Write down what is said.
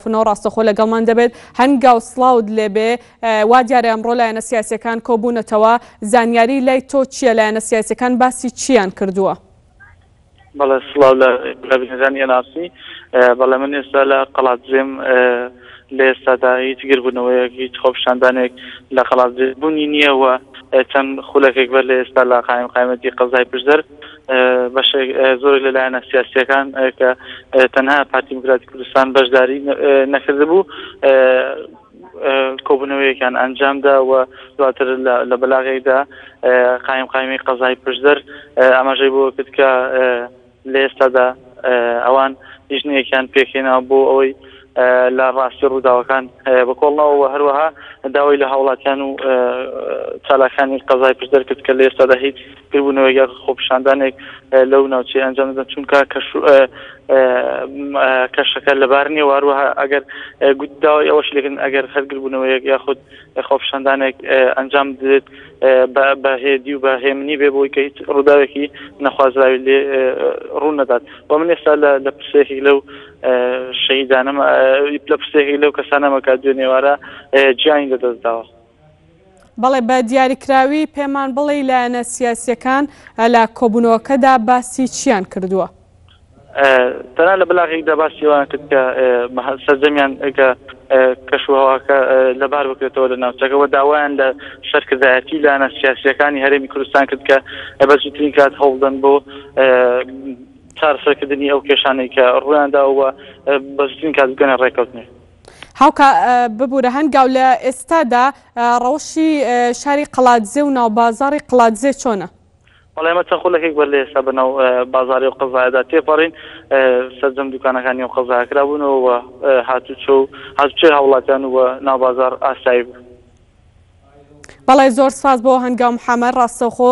فنۆ ڕاستەخۆ لەگەڵمان دەبێت. هەنگاو سڵاوت لێبێ. وا دیارە ئەمڕۆ لایەنە سیاسیەکان کۆبوونەتەوە. زانیاری لای تۆ چیە لایەنە سیاسیەکان باسی چیان کردووە؟ بەڵێ سڵاو لە بینەرانی ئەناسی. بەڵێ من ئێستا لە قەڵادزێم لە ئێستادا هیچ گردبوونەوەیەک هیچ خۆپیشاندانێک لە قەڵادزێ بوونی نیە و چەند خولەکێک بەر لە ئێستا لە قائیمقامیەتی قەزای پشدەر بەشێک زۆرێک لە لایەنە سیاسییەکان کە تەنها پارتی دیموکراتی کوردستان بەشداری نەکردبوو کۆبوونەوەیەکان ئەنجامدا و دواتر لە بەلاغێکدا قایم قایمی قەزای پشدەر ئاماژەی بۆ کرد کە لە ئێستادا ئەوان لیژنەیەکیان پێکهێنا بۆ ئەوەی لە ڕاستی ڕووداوەکان بە کۆڵنەوە و هەروەها داوای لە هاوڵاتیان و چالاکانی قەزای پشدەر کرد کە لە ئێستادا هیچ بیربوونەوەیەک یاخود خۆپیشاندانێک لەو ناوچەیە ئەنجام نەدەن، چونکە کەش و کەشەکە لەبار نییە و هەروەها ئەگەر داوای ئەوەشی لێکردن ئەگەر هەر بیربوونەوەیەک یاخود خۆپیشاندانێک ئەنجام بدرێت بە هێدی و بە هێمنی بێ بۆی کە هیچ ڕووداوێکی نەخوازراوی لێ ڕوو نەدات و من ئێستا لە پرسێکی لەو شەهیدانەمە لە پرسێکی لەو کەسانەمە کە دوێنێوارە گیانی لەدەست داوە. بەڵێ بە دیاریکراوی پێمان بڵێ لایەنە سیاسیەکان لە کۆبوونەوەکەدا باسی چیان کردووە؟ تەنان لە بەلاغێکدا باسی ئەوان کرد کە سەرجەمیان کە کەشوهواکە لەبار بکرێتەوە لە ناوچەکەەوە داوایان لە سەرکردایەتی لایەنە سیاسیەکانی هەرێمی کوردستان کرد کە بە زووترین کات هەوڵدەن بۆ چارەسەرکردنی ئەو کێشانەی کە ڕویانداوە بە زووترین کات بگەنە ڕێککەوتنێ. هاوکا ببورە هەنگاو لە ئێستادا ڕەوشی شاری قەڵادزێ و ناو بازاری قڵادزێ چۆنە؟ بەڵێ ئێمە چەند خولەکێک بەر لە ئێستا بە ناو بازاری ئەو قەزایەدا تێپەڕین سەرجەم دوکانەکانی ئەو قەزایە کرابوونەوە و هاتوچۆ و هاتوچۆی هاوڵاتیان و ناو بازار ئاسایی بوو بەڵێ زۆر سپاس بۆ هەنگاو محەمەد ڕاستەوخۆ